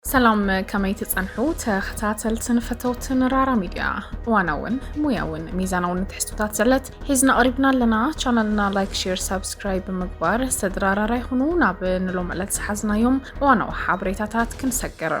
ሰላም ከመይ ትጸንሑ ተኸታተልትን ፈተውትን ራራ ሚድያ እዋናውን ሙያውን ሚዛናውን ትሕዝቶታት ዘለት ሒዝና ቐሪብና ኣለና ቻናልና ላይክ ሼር ሳብስክራይብ ብምግባር ስድራ ራራ ይኹኑ ናብ ንሎም ዕለት ዝሓዝናዮም እዋናዊ ሓበሬታታት ክንሰግር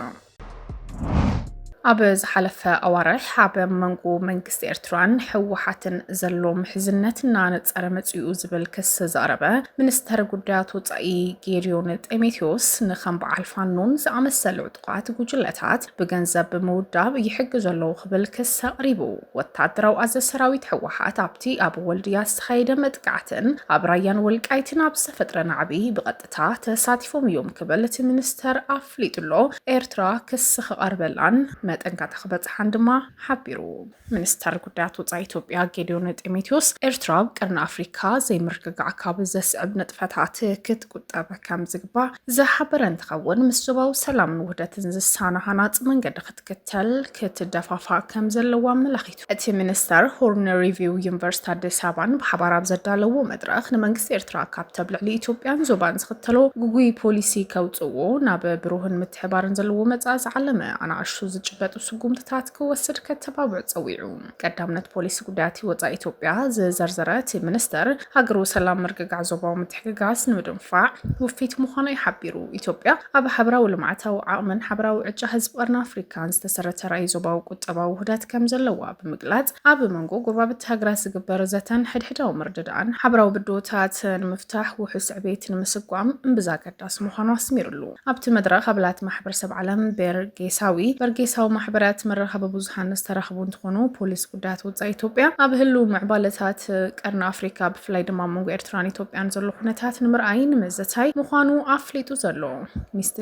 ኣብ ዝሓለፈ ኣዋርሕ ኣብ መንጎ መንግስቲ መንግስቲ ኤርትራን ህወሓትን ዘሎ ምሕዝነት እናነጸረ መጺኡ ዝብል ክሲ ዘቕረበ ሚኒስተር ጉዳያት ወጻኢ ጌድዮን ጢሞቴዎስ ንከም በዓል ፋኖን ዝኣመሰሉ ዕጡቓት ጉጅለታት ብገንዘብ ብምውዳብ ይሕግዙ ኣለዉ ክብል ክሲ ኣቕሪቡ። ወታደራዊ ኣዘ ሰራዊት ህወሓት ኣብቲ ኣብ ወልድያ ዝተኻየደ መጥቃዕትን ኣብ ራያን ወልቃይትን ኣብ ዝተፈጥረ ናዕቢ ብቐጥታ ተሳቲፎም እዮም ክብል እቲ ሚኒስተር ኣፍሊጡሎ። ኤርትራ ክሲ ክቐርበላን መጠንጋታ ክበጽሓን ድማ ሓቢሩ። ሚኒስተር ጉዳያት ወፃኢ ኢትዮጵያ ጌዲዮን ጢሞቴዎስ ኤርትራ ኣብ ቀርኒ ኣፍሪካ ዘይምርግጋዕ ካብ ዘስዕብ ንጥፈታት ክትቁጠብ ከም ዝግባእ ዝሓበረ እንትኸውን ምስ ዞባዊ ሰላምን ውህደትን ዝሳነ ሃናፂ መንገዲ ክትክተል ክትደፋፋእ ከም ዘለዎ ኣመላኺቱ። እቲ ሚኒስተር ሆርን ሪቪው ዩኒቨርሲቲ ኣዲስ ኣበባን ብሓባር ኣብ ዘዳለዎ መድረኽ ንመንግስቲ ኤርትራ ካብተብ ልዕሊ ኢትዮጵያን ዞባን ዝኽተሎ ጉጉይ ፖሊሲ ከውፅዎ ናብ ብሩህን ምትሕባርን ዘለዎ መፃኢ ዝዓለመ ኣናእሹ ዝጭበጡ ስጉምትታት ክወስድ ከተባብዕ ፀዊዑ። ቀዳምነት ፖሊሲ ጉዳያት ወፃኢ ኢትዮጵያ ዝዘርዘረ እቲ ሚኒስትር፣ ሃገሩ ሰላም፣ ምርግጋዕ፣ ዞባዊ ምትሕግጋዝ ንምድንፋዕ ውፊት ምዃና እዩ ሓቢሩ። ኢትዮጵያ ኣብ ሓበራዊ ልምዓታዊ ዓቕምን ሓበራዊ ዕጫ ህዝቢ ቀርኒ ኣፍሪካን ዝተሰረተ ራእይ ዞባዊ ቁጠባዊ ውህደት ከምዘለዋ ብምግላፅ፣ ኣብ መንጎ ጎረባብቲ ሃገራት ዝግበር ዘተን ሕድሕዳዊ ምርድዳእን ሓበራዊ ብድሆታት ንምፍታሕ ውሑስ ዕቤት ንምስጓም እምብዛ ኣገዳሲ ምዃኑ ኣስሚርሉ። ኣብቲ መድረኽ ኣባላት ማሕበረሰብ ዓለም በርጌሳዊ፣ በርጌሳዊ ማሕበራት፣ መራኸቢ ብዙሃን ዝተረኽቡ እንትኾኑ ፖሊስ ጉዳያት ወፃኢ ኢትዮጵያ ኣብ ህልው ምዕባለታት ቀርኒ ኣፍሪካ ብፍላይ ድማ ኣብ መንጎ ኤርትራን ኢትዮጵያን ዘሎ ኩነታት ንምርኣይ ንምዝታይ ምዃኑ ኣፍሊጡ ዘሎ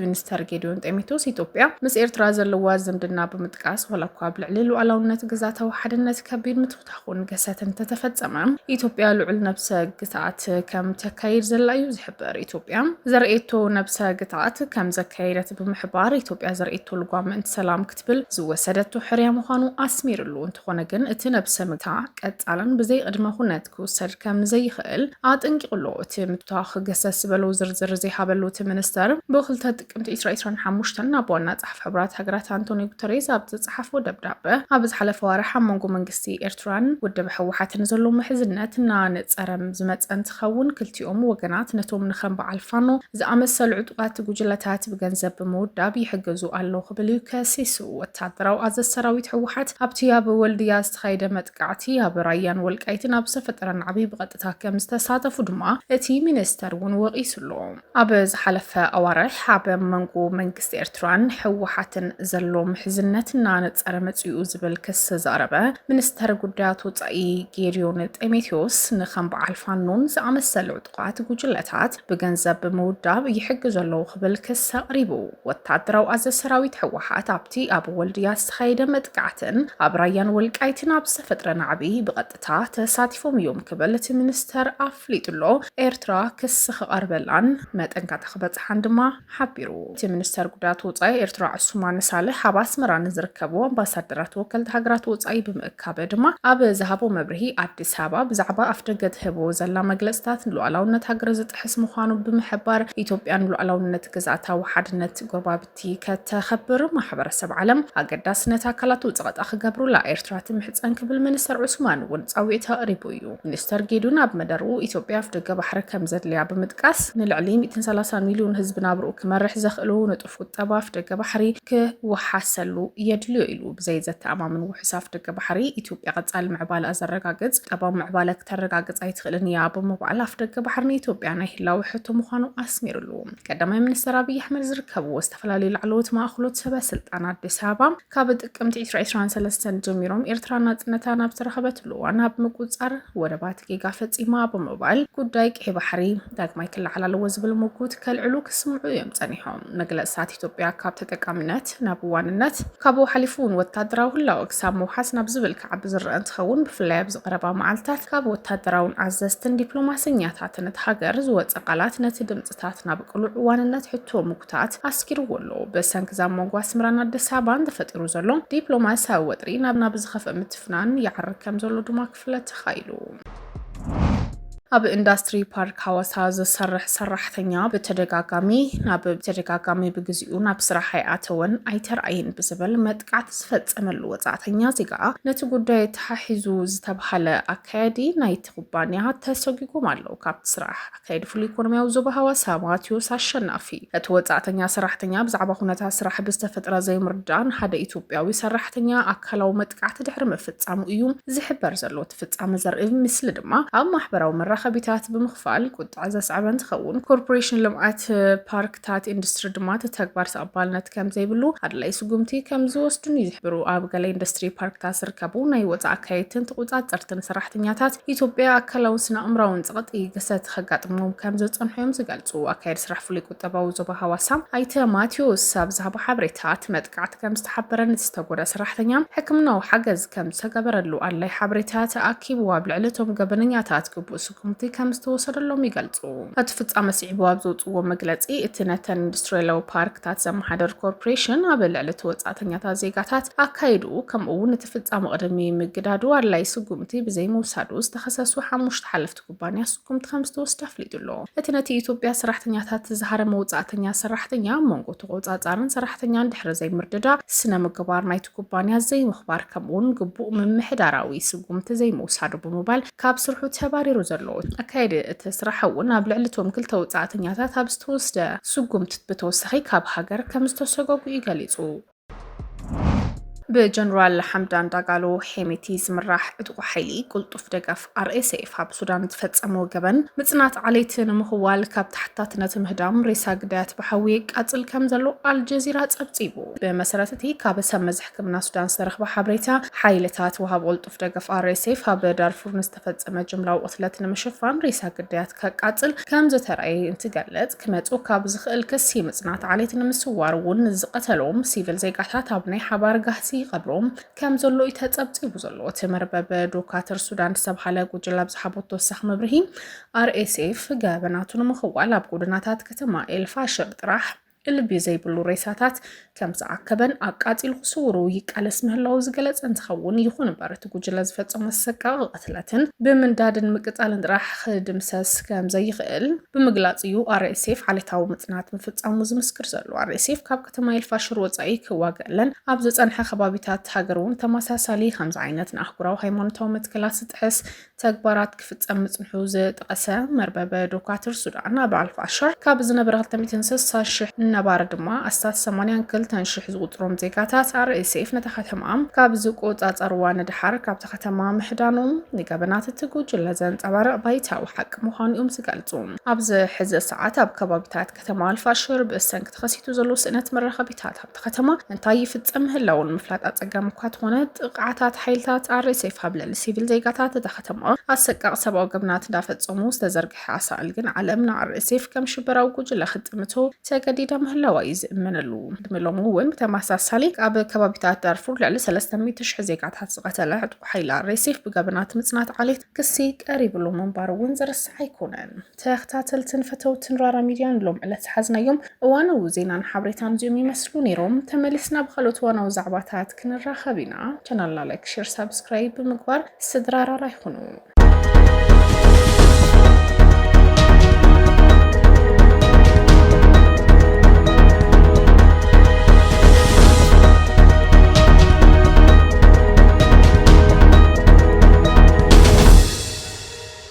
ሚኒስተር ጌዲዮን ጤሜቶስ ኢትዮጵያ ምስ ኤርትራ ዘለዋ ዝምድና ብምጥቃስ ዋላ እኳ ኣብ ልዕሊ ሉዓላውነት ግዛታዊ ሓድነት ከቢድ ኹን ገሰት እንተተፈፀመ ኢትዮጵያ ልዑል ነብሰ ግትኣት ከም ተካይድ ዘላ እዩ ዝሕበር። ኢትዮጵያ ዘርእየቶ ነብሰ ግትኣት ከም ዘካየደት ብምሕባር ኢትዮጵያ ዘርእየቶ ልጓም ምእንቲ ሰላም ክትብል ዝወሰደቶ ሕርያ ምዃኑ ኣስሚርሉ። እንተኾነ ግን እቲ ነብሰ ምግታ ቀፃልን ብዘይ ቕድመ ኹነት ክውሰድ ከም ዘይኽእል ኣጠንቂቑ ኣሎ። እቲ ምቷኽ ገሰስ ዝበሎ ዝርዝር ዘይሃበሉ እቲ ሚኒስተር ብክልተ ጥቅምቲ ዕስራ ዕስራን ሓሙሽተን ናብ ዋና ጸሓፊ ሕቡራት ሃገራት ኣንቶንዮ ጉተሬዝ ኣብ ዝጸሓፎ ደብዳበ፣ ኣብ ዝሓለፈ ኣዋርሕ ኣብ መንጎ መንግስቲ ኤርትራን ውድብ ህወሓትን ዘሎ ምሕዝነት እናነጸረ ዝመጸ እንትኸውን፣ ክልቲኦም ወገናት ነቶም ንከም በዓል ፋኖ ዝኣመሰሉ ዕጡቓት ጉጅለታት ብገንዘብ ብምውዳብ ይሕግዙ ኣለዉ ክብል እዩ ከሲሱ። ወተሃደራዊ ኣዘዝ ሰራዊት ህወሓት፣ ኣብቲ ኣብ ወልድያ ዝተኻየደ መጥቃዕቲ፣ ኣብ ራያን ወልቃይትን ኣብ ዝተፈጠረ ናዕቢ ብቐጥታ ከም ዝተሳተፉ ድማ እቲ ሚኒስተር እውን ወቒሱ ኣሎ። ኣብ ዝሓለፈ ኣዋርሕ ኣብ መንጎ መንግስቲ ኤርትራን ህወሓትን ዘሎ ምሕዝነት እናነፀረ መፂኡ ዝብል ክስ ዘቕረበ ሚኒስተር ጉዳያት ወፃኢ ጌዲዮን ጢሞቴዎስ ንከም በዓል ፋኖን ዝኣመሰሉ ዕጡቓት ጉጅለታት ብገንዘብ ብምውዳብ ይሕግዙ ኣለዉ ክብል ክስ ኣቕሪቡ። ወታደራዊ ኣዘ ሰራዊት ህወሓት ኣብቲ ኣብ ወልድያ ዝተኻየደ መጥቃዕትን ኣብ ራያን ወልቃይትን ኣብ ዝተፈጥረ ናዕቢ ብቐጥ እታ ተሳቲፎም እዮም ክብል እቲ ሚኒስተር ኣፍሊጡ'ሎ። ኤርትራ ክሲ ክቐርበላን መጠንቀቕታ ክበጽሓን ድማ ሓቢሩ። እቲ ሚኒስተር ጉዳያት ወጻኢ ኤርትራ ዑሱማን ሳልሕ ኣብ ኣስመራ ንዝርከቡ ኣምባሳደራት ወከልቲ ሃገራት ወጻኢ ብምእካብ ድማ ኣብ ዝሃቦ መብርሂ ኣዲስ ኣበባ ብዛዕባ ኣፍደገ ትህቦ ዘላ መግለጽታት ንሉኣላውነት ሃገር ዝጥሕስ ምዃኑ ብምሕባር ኢትዮጵያ ንሉኣላውነት ግዝኣታዊ ሓድነት ጎረባብቲ እቲ ከተኸብር ማሕበረሰብ ዓለም ኣገዳስነት ኣካላቱ ፀቐጣ ክገብሩላ ኤርትራ ትምሕፀን ክብል ሚኒስተር ዑስማን እውን ፃውዒት ኣቕሪቡ እዩ። ሚኒስተር ጌዱን ኣብ መደርኡ ኢትዮጵያ ኣፍደገ ባሕሪ ከምዘድልያ ብምጥቃስ ንልዕሊ ሚእትን ሰላሳን ሚልዮን ህዝቢ ናብርኡ ክመርሕ ዘኽእሉ ንጡፍ ቁጠባ ኣፍደገ ባሕሪ ክወሓሰሉ የድልዮ ኢሉ። ብዘይ ዘተኣማምን ውሑስ ኣፍደገ ባሕሪ ኢትዮጵያ ቀፃሊ ምዕባለኣ ዘረጋግፅ ቁጠባዊ ምዕባለ ክተረጋግፅ ኣይትኽእልን እያ ብምባል ኣፍደገ ባሕሪ ንኢትዮጵያ ናይ ህላወ ሕቶ ምዃኑ ኣስሚርሉ። ቀዳማይ ሚኒስትር ኣብይ ኣሕመድ ዝርከብዎ ዝተፈላለዩ ላዕለዎት ማእኸሎት ሰበ ስልጣን ኣዲስ ኣበባ ካብ ጥቅምቲ 2023 ጀሚሮም ኤርትራ ናፅነታ ናብ ዝተረኸበትሉ እዋን ኣብ ምቁፃር ወደባት ጌጋ ፈፂማ ብምባል ጉዳይ ቀይ ባሕሪ ዳግማይ ክለዓል ኣለዎ ዝብል ምጉት ከልዕሉ ክስምዑ እዮም ፀኒሖም። መግለፅታት ኢትዮጵያ ካብ ተጠቃሚነት ናብ ዋንነት ካብኡ ሓሊፉ እውን ወታደራዊ ህላወ ክሳብ ምውሓስ ናብ ዝብል ክዓቢ ዝረአ እንትኸውን ብፍላይ ኣብዚ ቀረባ መዓልትታት ካብ ወታደራውን ኣዘዝትን ዲፕሎማሰኛታትን እቲ ሃገር ዝወፀ ቃላት ነቲ ድምፅታት ናብ ቅሉዕ ዋንነት ሕቶ ምጉታት ኣስጊርዎ ኣሎ። ብሰንኪ ዛብ መንጎ ኣስመራን ኣዲስ ኣበባን ተፈጢሩ ዘሎ ዲፕሎማሲያዊ ወጥሪ ናብ ናብ ዝኸፍእ ምትፍናን ይዓርግ ከምዘሎ ድማ ክፍለ ተኻኢሉ። ኣብ ኢንዳስትሪ ፓርክ ሃዋሳ ዝሰርሕ ሰራሕተኛ ብተደጋጋሚ ናብ ብተደጋጋሚ ብግዚኡ ናብ ስራሕ ኣይኣተወን ኣይተረኣየን ብዝብል መጥቃዕቲ ዝፈፀመሉ ወፃእተኛ ዜጋ ነቲ ጉዳይ ተሓሒዙ ዝተብሃለ ኣካያዲ ናይቲ ኩባንያ ተሰጒጎም ኣለዉ ካብቲ ስራሕ ከይዲ ፍሉይ ኢኮኖሚያዊ ዞባ ሃዋሳ ማቲዎስ ኣሸናፊ እቲ ወፃእተኛ ሰራሕተኛ ብዛዕባ ኩነታት ስራሕ ብዝተፈጥረ ዘይምርድዳእ ንሓደ ኢትዮጵያዊ ሰራሕተኛ ኣካላዊ መጥቃዕቲ ድሕሪ ምፍፃሙ እዩ ዝሕበር ዘሎ እቲ ፍፃመ ዘርኢ ምስሊ ድማ ኣብ ማሕበራዊ መራኸቢታት ብምኽፋል ቁጥዐ ዘስዐበ እንትኸውን ኮርፖሬሽን ልምዓት ፓርክ ትካላት ኢንዱስትሪ ድማ እቲ ተግባር ተቐባልነት ከምዘይብሉ ኣድላይ ስጉምቲ ከምዝወስዱን እዩ ዝሕብሩ። ኣብ ገለ ኢንዱስትሪ ፓርክታት ዝርከቡ ናይ ወፃእ ኣካየድትን ተቖፃፀርትን ሰራሕተኛታት ኢትዮጵያ ኣካላውን ስነ ኣእምራውን ፀቕጢ ግሰት ከጋጥሞም ከምዝፀንሑ እዮም ዝገልፁ። ኣካየዲ ስራሕ ፍሉይ ቁጠባዊ ዞባ ሃዋሳ ኣይተ ማቴዎስ ኣብ ዝሃቦ ሓበሬታ እቲ መጥቃዕቲ ከምዝተሓበረን እቲ ዝተጎድኣ ሰራሕተኛ ሕክምናዊ ሓገዝ ከምዝተገበረሉ ኣድላይ ሓበሬታ ተኣኪቡ ኣብ ልዕሊ እቶም ገበነኛታት ግቡእ ስጉምቲ ከምዝተወሰደሎም ይገልጹ። እቲ ፍጻመ ስዒቡ ኣብ ዘውጽዎ መግለጺ፣ እቲ ነተን ኢንዱስትሪያላዊ ፓርክታት ዘመሓደር ኮርፖሬሽን ኣብ ልዕሊ እቲ ወጻእተኛታት ዜጋታት ኣካይድኡ ከምኡ'ውን እቲ ፍጻመ ቅድሚ ምግዳዱ ኣድላዪ ስጉምቲ ብዘይምውሳዱ ዝተኸሰሱ ሓሙሽተ ሓለፍቲ ኩባንያ ስጉምቲ ከምዝተወስደ ኣፍሊጡ ኣሎ። እቲ ነቲ ኢትዮጵያ ሰራሕተኛታት ዝሃረመ ወጻእተኛ ሰራሕተኛ ኣብ መንጎ ተቖጻጻርን ሰራሕተኛን ድሕሪ ዘይምርድዳእ፣ ስነ-ምግባር ናይቲ ኩባንያ ዘይምኽባር ከምኡ'ውን ግቡእ ምምሕዳራዊ ስጉምቲ ዘይምውሳዱ ብምባል ካብ ስርሑ ተባሪሩ ዘሎ። ኣካየዲ እቲ ስራሕ እውን ኣብ ልዕሊ እቶም ክልተ ወጻእተኛታት ኣብ ዝተወስደ ስጉምትት ብተወሳኺ ካብ ሃገር ከምዝተሰጎጉ እዩ ገሊጹ። ብጀነራል ሓምዳን ዳጋሎ ሄሜቲ ዝምራሕ ዕጡቕ ሓይሊ ቁልጡፍ ደገፍ RSF ኣብ ሱዳን ዝፈጸሞ ገበን ምጽናት ዓሌት ንምኽዋል ካብ ተሓታትነት ምህዳም ሬሳ ግዳያት ብሓዊ የቃጽል ከም ዘሎ ኣልጀዚራ ጸብጺቡ። ብመሰረት እቲ ካብ ሰብ መዚ ሕክምና ሱዳን ዝተረኽበ ሓበሬታ ሓይልታት ወሃብ ደገፍ ኣርኤስኤፍ ኣብ ዳርፉር ንዝተፈጸመ ጅምላዊ ቕትለት ንምሽፋን ሬሳ ግዳያት ከቃጽል ከም ዝተረእየ እንትገለጽ ክመጽኡ ካብ ዝኽእል ክሲ ምጽናት ዓሌት ንምስዋር እውን ንዝቐተሎም ሲቪል ዜጋታት ኣብ ናይ ሓባር ጋህሲ ይቐብሮም ከም ዘሎ እዩ ተጸብጺቡ ዘሎ እቲ መርበብ ዶካትር ሱዳን ዝተብሃለ ጉጅላ ኣብ ዝሓቦ ተወሳኺ መብርሂ ኣርኤስኤፍ ገበናቱ ንምኽዋል ኣብ ጎደናታት ከተማ ኤልፋሽር ጥራሕ እልቢ ዘይብሉ ሬሳታት ከም ዝኣከበን ኣቃፂሉ ክስውሩ ይቃለስ ምህላው ዝገለፀ እንትኸውን ይኹን እምበር እቲ ጉጅለ ዝፈፀሞ ኣሰቃቂ ቅትለትን ብምንዳድን ምቅፃልን ጥራሕ ክድምሰስ ከም ዘይኽእል ብምግላፅ እዩ ኣርኤስኤፍ ዓሌታዊ ምፅናት ምፍፃሙ ዝምስክር ዘሎ። ኣርኤስኤፍ ካብ ከተማ ኤልፋሽር ወፃኢ ክዋገለን ኣብ ዝፀንሐ ከባቢታት ሃገር እውን ተመሳሳሊ ከምዚ ዓይነት ንኣህጉራዊ ሃይማኖታዊ መትከላት ዝጥሕስ ተግባራት ክፍፀም ምፅንሑ ዝጠቐሰ መርበብ ዶካትር ሱዳን ኣብ ኣልፋሻር ካብ ዝነበረ 260 ሽሕ ነባሪ ድማ ኣስታት 82 ሽሕ ዝቑፅሮም ዜጋታት ኣርኤስኤፍ ነታ ከተማ ካብ ዝቆፃፀርዋ ንደሓር ካብታ ከተማ ምሕዳኖም ንገበናት እቲ ጉጅለ ዘንፀባርቕ ባይታዊ ሓቂ ምዃኑ እዮም ዝገልፁ። ኣብዚ ሕዚ ሰዓት ኣብ ከባቢታት ከተማ ኣልፋሽር ብሰንኪ ተኸሲቱ ዘሎ ስእነት መራኸቢታት ኣብቲ ከተማ እንታይ ይፍፀም ምህላው ንምፍላጥ ኣፀጋሚ እኳ ተኾነ ጥቕዓታት ሓይልታት ኣሬሴፍ ኣብ ልዕሊ ሲቪል ዜጋታት እታ ከተማ ኣሰቃቕ ሰብኣዊ ገበናት እንዳፈፀሙ ዝተዘርግሐ ኣሳእል ግን ዓለም ንኣሬሴፍ ከም ሽበራዊ ጉጅለ ክትጥምቶ ተገዲዳ ምህላዋ እዩ ዝእመነሉ ዕድመ ሎሚ እውን ብተመሳሳሊ ኣብ ከባቢታት ዳርፉር ልዕሊ ሰለስተ ሚእቲ ሽሕ ዜጋታት ዝቐተለ ዕጥቁ ሓይሊ ኣሬሴፍ ብገበናት ምፅናት ዓሌት ክሲ ቀሪብሉ ምንባሩ እውን ዝርሳዕ ኣይኮነን። ተኽታተልትን ፈተውትን ራራ ሚድያን ሎም ዕለት ዝሓዝናዮም እዋናዊ ዜናን ሓብሬታን እዚኦም ይመስሉ ነይሮም። ተመሊስና ብካልኦት እዋናዊ ዛዕባታት ክንራኸብ ኢና። ቻናልና ላይክ፣ ሼር፣ ሳብስክራይብ ብምግባር ስድራ ራራ ይኹኑ።